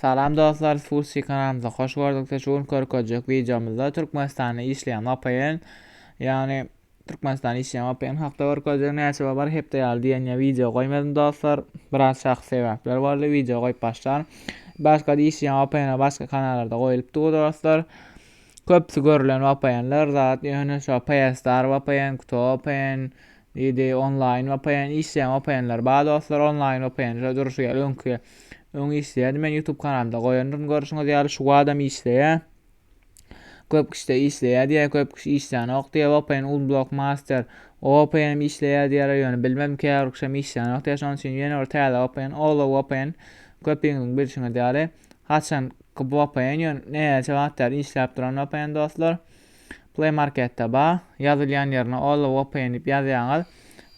Salam dostlar Respursy kanalymyza hoş gördükde şu gün körkezjek videomyzda Türkmenistanda işleýän VPN ýagny Türkmenistanda işleýän VPN hakda görkezjek näçe we bir hepde ýaly diýen ýa video goýmadym dostlar biraz şahsy sebäpler boldy video goýup başlan başga da işleýän VPN başga kanallarda goýulypdy bu dostlar köpüsi görülen VPNler zat ýöne şu PSR VPN, Kuto VPN Diýdi, Onlaýn vpn işleýän vpnler bar dostlar, onlaýn vpn şo durşy ýaly öňki öň işleýärdi men YouTube kanalymda goýandyryn görşüňiz ýaly şu wadam işleýär. Köp kişide işleýär diýär, köp kişi işlänok diýär vpn Unblock Master o vpn işleýär diýýärler ýöne bilmem käbirkişem işlänok diýär şonuň üçin ýene bir täze vpn Olo vpn köpiňiziň bilşiňiz ýaly haçanky vpn ýöne näçe wagt bäri işläp duran vpn dostlar. Play Marketde ba, ýazylýan ýerine All of Opay'n diýip ýazýaňyz.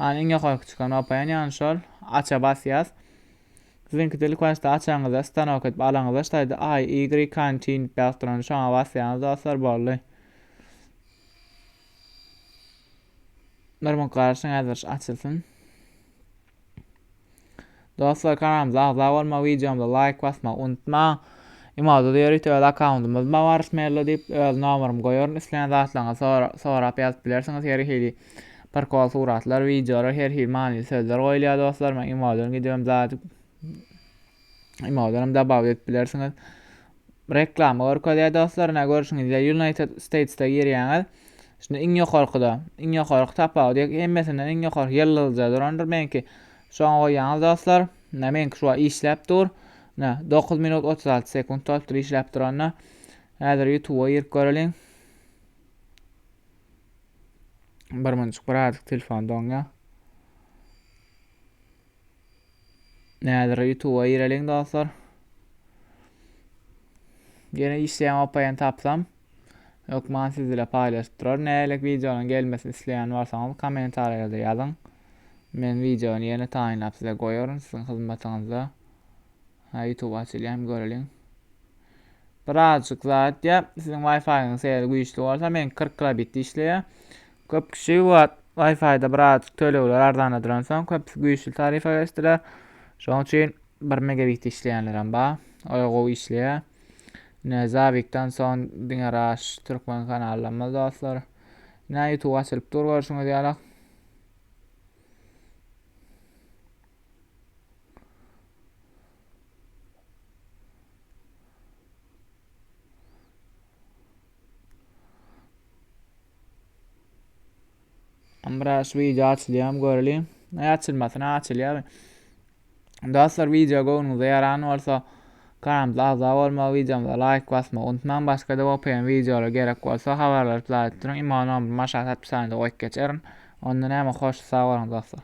An iň ýokarky çykan Opay'n ýagny şol. Aça basýas. Siziňkide ilk başda açanyňyzda stanok edip alaňyzda ştaýda I, Y, Can, Chin diýip ýazyp duran şoňa basýaňyz dostlar boldy. Bir muk garaşyň häzir açylsyn. Dostlar kanalymyza agza bolmagy, wideomyza laýk basmagy unutmaň. Emoda ýörite öz akkauntymyz bar Waris Merlo diýip, öz nomerymy goýaryn. Isleýän zatlaryňyzy sorap ýazyp bilersiňiz. Her hili prikol suratlar, wideolar, her hili manyly sözler goýulýar dostlar. Men emodan gidibem zat Emodanam dabaw edip bilersiňiz. Reklama görkezýär dostlar, ne görşüňizde United States'te girýäňiz. Şimdi iň ýokarkyda, iň ýokarky tapawut ýek hemmesinden iň ýokarky ýyldyzja durandyr meňki. Şoňa goýýaňyz dostlar. Ne meňki şu işläp dur. Ne 9 minut 36 sekunt bolupdyr işläp duranda. Häzir YouTube-a girip göreliň. Bir minçik bir adyk telefon doňýa. Näzire ýutuba gireliň dostlar. Ýene işleýän opaýan tapsam hökman siz bile paýlaşyp durar. Nälik wideonyň gelmesini isleýän bolsaňyz kommentariýalarda ýazyň. Men wideony ýene taýynlap size goýaryn siziň hyzmatyňyzda. Ha YouTube açylýam göreliň. Birazjyk zat ýap. Siziň Wi-Fi-ňyz seýle güýçli bolsa men 40 kilobit işleýär. Köp kişi bu wagt Wi-Fi-da birazajyk tölegler arzanadylansoň, köpüsi güýçli tarifa geçdiler. Şonuň üçin 1 megabit işleýänlerem bar. Oýa gowy işleýär. Ine Zabikden soň diňe Raş türkmen kanallarymyz dostlar. Ine YouTube açylyp dur görşüňiz ýaly. Amraş video açylýam göreliň. Ne açylmasyn, açylýar. Dostlar video göwnüňize ýaran bolsa kanalymyza agza bolmagy, videomyza laýk basmagy unutmaň. Başga-da OPM videolar gerek bolsa habarlary plaýt duruň. Imo nomerymy aşaky opisiýada goýup geçerin. Onda näme hoş sag boluň dostlar.